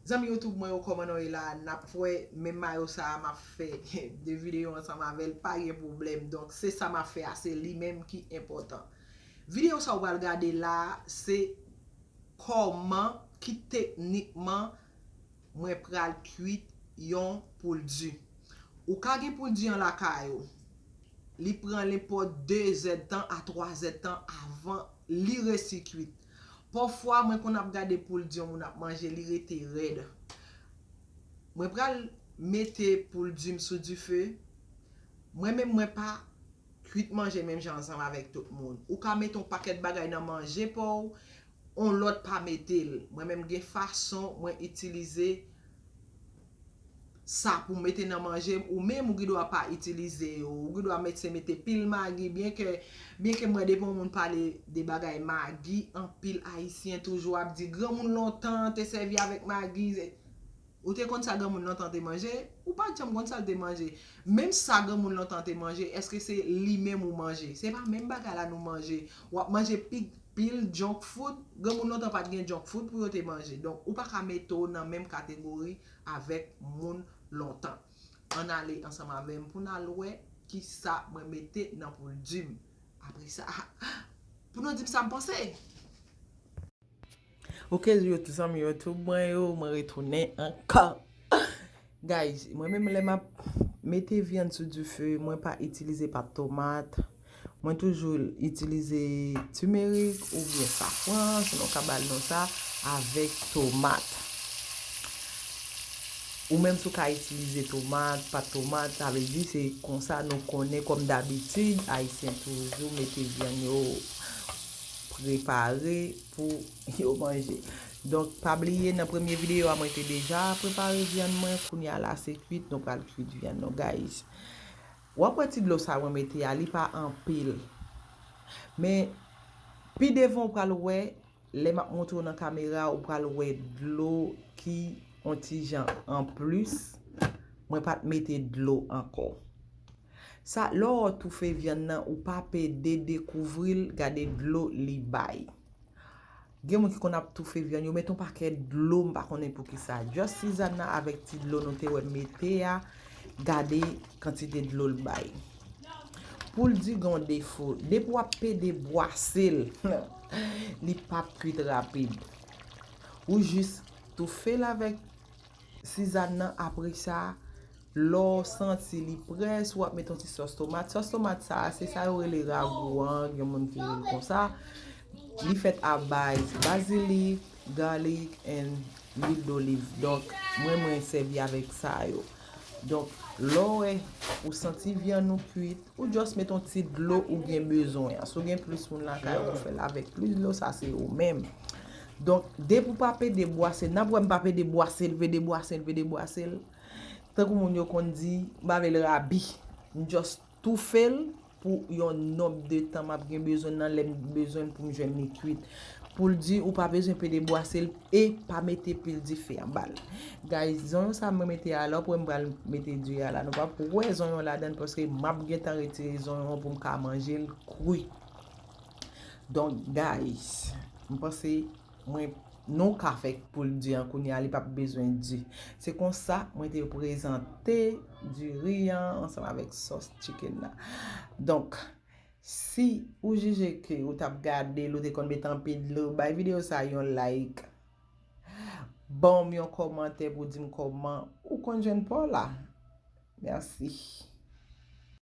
Zanmi youtube mwen yo koman nou ye la nap wè men mayo sa map fè 2 video ansanm avèl pa gen problèm donk se sa map fè a se li menm ki enpòtan video sa ou pral gade la se kòman ki teknikman mwen pral kwit yon poul di. Ou ka gen poul di an lakay ou. Li pran nenpòt 2 zèdtan a 3 zèdtan avan li resi kuit. Pafwa mwen konn ap gade poul di yon moun ap manje li rete rèd. Mwen pral mete poul di m sou dife. Mwen menm mwen pa kuit manje menm jan ansanm avèk tout moun. Ou ka mete yon pakèt bagay nan manje pa w, yon lòt pa mete l. Mwen menm gen fason mwen itilize. sa pou mete nan manje m ou menm ou gen dwa pa itilize yo ou gen dwa mèt se mete pil magi byen ke byen ke mwen depi yon moun pale de bagay magi anpil ayisyen toujou ap di granmoun lontan te sèvi avèk magi ou te konn sa granmoun lontan te manje ou pat janm konn sa l te manje menm sa granmoun lontan te manje èske se li menm ou manje se pa menm bagay la nou manje wap manje pi Pil junk food, granmoun lontan pat gen junk food pou yo te manje, donk ou pa ka mete w nan menm kategori avèk moun lontan. Ann ale ansanm avè m pou n al wè kisa mwen mete nan pouldi m. Apre sa, pou nou di m sa m panse! Ok zanmi YouTube mwen yo, mwen retounen ankò! Guys mwen menm lè map mete vyann sou dife mwen pa itilize pat tomat mwen toujou itilize timerik oubyen safran si nou ka bal non sa avèk tomat ou menm si ou ka itilize tomat pat tomat sa vle di se konsa nou konnen kòm dabitid ayisyen toujou mete vyann yo prepare pou yo manje donk pa bliye nan premye video a mwen te deja prepare vyann mwen kounya la se kwit nou pral kwit vyann nou guys wap wè ti dlo sa mwen mete a li pa anpil men pi devan ou pral wè lè map montre w nan kamera ou pral wè dlo ki on ti jan anplis mwen pat mete dlo ankò. Sa lè w toufe vyann nan ou pa pede dekouvri l gade dlo li bay. Gen moun ki konn ap toufe vyann yo met on pakèt dlo m pa konnen poukisa. Just Sizanna avèk ti dlo nou te wè m mete a gade kantite dlo l bay. Poul di gen on defo depi w ap pede bwase l li pap kwit rapid. Ou jis toufe l avèk. Sizann nan apre sa lè w santi li prè si w ap met yon ti sòs tomat sòs tomat sa a se sa yo rele ragou an gen moun ki rele l konsa li fèt a baz bazilik gaalik and lwil doliv donk mwen mwen sèvi avèk sa yo donk lè w wè ou santi vyann ou kuit ou just met yon ti dlo ou gen bezwen an si w gen plis moun lakay ou ou fè l avèk plis dlo sa se ou menm Donk, depi ou pa pede bwase, n ap wè m pa pede bwase l, pede bwase l, pede bwase l, tankou moun yo konn di, m pa vle l rabi. M jòs toufe l pou yon nonb de tan m ap gen bezwen nan lè m bezwen l pou m jwenn li kuit. Pou l di ou pa bezwen pede bwase l e pa mete pil dife anba l. Guys, zonyon sa mwen mete a la, w ap wè m pral mete di a la. Nou pap wè zonyon ladan l paske m ap gentan retire zonyon an pou m ka manje l kri. Donk guys, m panse mwen nou ka fè pou l di an kounye a li pap bezwen di. Se konsa mwen te prezante diri an ansanm avèk sòs chicken nan. Donk si ou jije ke ou tap gade l ou te konn met anpe dlo, bay videyo sa yon like. Ban m yon kòmantè pou di m kòman ou konn jwenn pa w la. Merci.